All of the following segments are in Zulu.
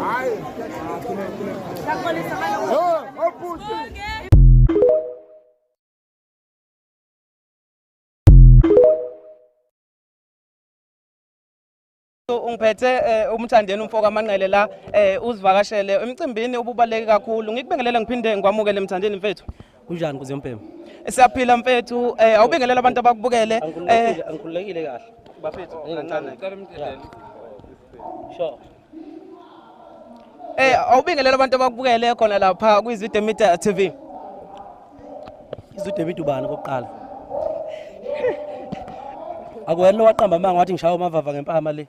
Hayi. Oh, oputi. ungiphethe eh, umthandeni umfo kamanqele la eh, uzivakashele emcimbini ububaleke kakhulu ngikubingelele ngiphinde ngikwamukele emthandeni mfethu Kunjani kuze umbhemu? Siyaphila mfethu, eh awubingelela abantu abakubukele. Eh angikhululekile kahle. Bafethu kancane. Cela umthelele. Sure. Eh awubingelela abantu abakubukele khona lapha kwiZwide Media TV. IZwide Media ubani kokuqala? Akuwena owaqamba amanga wathi ngishaya umavava ngempama le.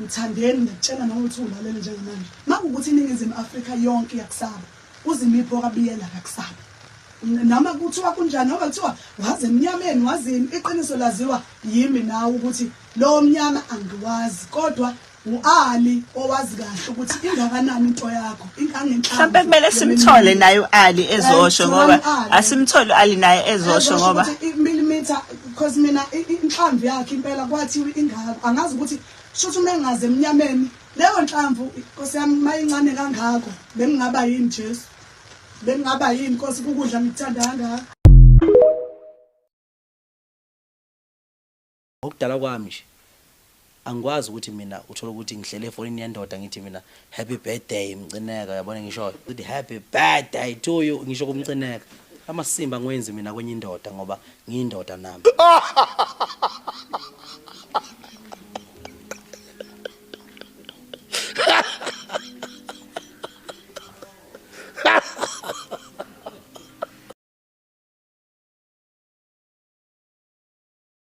Mthandeni ngiyakutshela nawe ukuthi ulalele njengamanje. Makukuthi iningizimu Afrika yonke iyakusaba. Uzimiphi okabiyela kakusaba. Nama kuthiwa kunjani ngoba kuthiwa waze emnyameni wazini iqiniso laziwa yimi nawe ukuthi lo mnyama angiwazi kodwa uAli owazi kahle ukuthi ingakanani into yakho ingangenhla mhlawumbe kumele simthole naye uAli ezosho ngoba asimthole uAli naye ezosho ngoba milimeter Because mina inhlamvu yakhe impela kwathiwa ingaka angazi ukuthi shuthi uma engaze emnyameni leyo nhlamvu Nkosi yami mayincane kangako bengingaba yini Jesu bengingaba yini Nkosi kukudla ngikuthanda kangaka okudala kwami nje Angikwazi ukuthi mina uthole ukuthi ngihlele efonini yendoda ngithi mina happy birthday mcineka uyabona engishoyo ukuthi happy birthday to you ngisho kumcineka amasimba ngiwenzi mina kwenye indoda ngoba ngiyindoda nami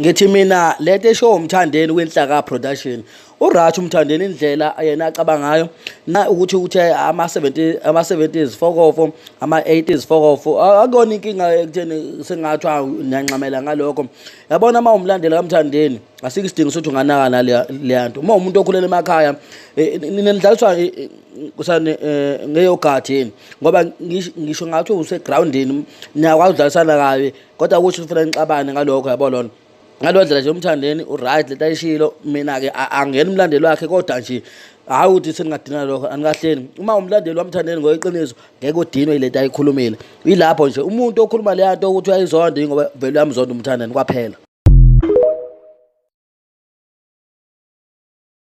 ngithi mina lento esho umthandeni kwenhlaka production uRath umthandeni indlela yena acabanga ngayo na ukuthi ukuthi ama 70 ama 70s fokofo ama 80s fokofo akuyona inkinga ekutheni sengathi ngiyanxamela ngalokho yabona uma umlandela kamthandeni asike isidingo sokuthi unganaka naleyanto uma umuntu okhulele emakhaya e, e, ninidlaliswa e, kusani ngeyogathini ngoba ngisho ngathi usegroundini niyakwazi udlalisana kabi kodwa ukuthi ufuna nixabane ngalokho yabo lona ngalo ndlela nje umthandeni uright lento ayishilo mina-ke angena umlandeli wakhe kodwa nje hhayi ukuthi seningadinana lokho anikahleni uma umlandeli wamthandeni ngoyiqiniso ngeke udinwe yilento ayikhulumile yilapho nje umuntu okhuluma leya nto ukuthi uyayizonda yingoba vele uyamzonda umthandeni kwaphela